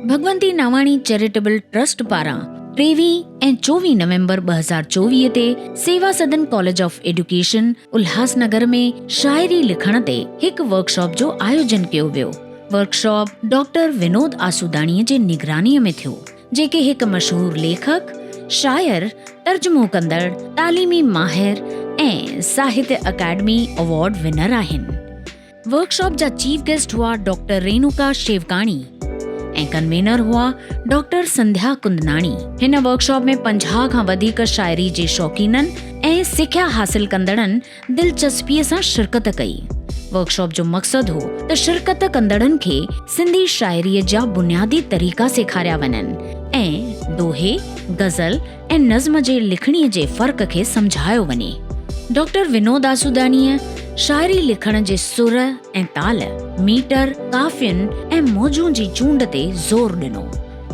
Bhagwanti Nawani charitable trust پاران ٽيويهه ۽ چوويهه نومبر ٻه هزار چوويهه تي Seva Sadan college of education Ulhasnagar ۾ شاعري لکڻ تي هڪ ورڪشاپ جو آيوجن ڪيو ويو ورڪشاپ ڊاڪٽر ونود آسوداڻيء جي نگرانيء ۾ ٿيو، جيڪي هڪ مشهور ليکڪ، شاعر، ترجمو ڪندڙ، تعليمي ماهر ۽ ساهتيه اڪاڊمي ايوارڊ ونر آهن. ورڪشاپ جا چيف گيسٽ هئا ڊاڪٽر رينوڪا شيوڪاڻي ۽ ڪنوينر هئا ڊاڪٽر سنڌيا ڪندناڻي. هن ورڪشاپ ۾ پنجاهه کان وڌيڪ شاعري جي شوقينن ۽ سکيا حاصل ڪندڙن دلچسپيء سان شرڪت ڪئي. ورڪشاپ جو مقصد هو ته شرڪت ڪندڙن کي سنڌي شاعريء جا بنيادي طريقا سيکاريا وڃن ۽ دوهي، غزل ۽ نظم جي لکڻيء جي فرق کي سمجهايو وڃي. ڊاڪٽر ونود آسوداڻيء شاعري لکڻ جي سر ۽ تال، ميٽر، قافين ۽ موضوعن جي چونڊ تي زور ڏنو.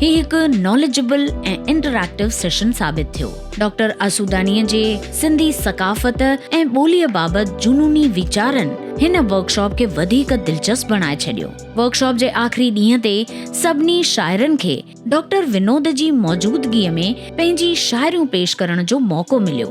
هي هڪ ناليجبل ۽ انٽريڪٽو سيشن ثابت ٿيو. ڊاڪٽر آسوداڻيء جي سنڌي ثقافت ۽ ٻوليء بابت جنوني ويچارن هن ورڪشاپ کي وڌيڪ دلچسپ بڻائي ڇڏيو. ورڪشاپ جي آخري ڏينهن تي سڀني شاعرن کي ڊاڪٽر ونود جي موجودگيء ۾ پنهنجي شاعريون پيش ڪرڻ جو موقعو مليو.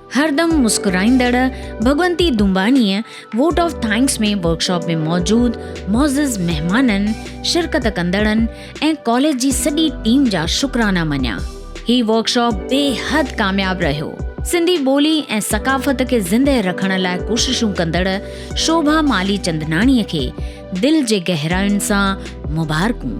هردم مسڪرائيندڙ ڀڳونتي دمباڻيء ووٽ آف ٿئنڪس ۾ ورڪشاپ ۾ موجود معزز مهمانن، شرڪت ڪندڙن ۽ ڪاليج جي سڄي ٽيم جا شڪرانا مڃيا. هي ورڪشاپ بي حد ڪامياب رهيو. سنڌي ٻولي ۽ ثقافت کي زندهه رکڻ لاء ڪوششون ڪندڙ شوڀا مالهي چندناڻيء کي دل جي گهراين سان مبارڪون.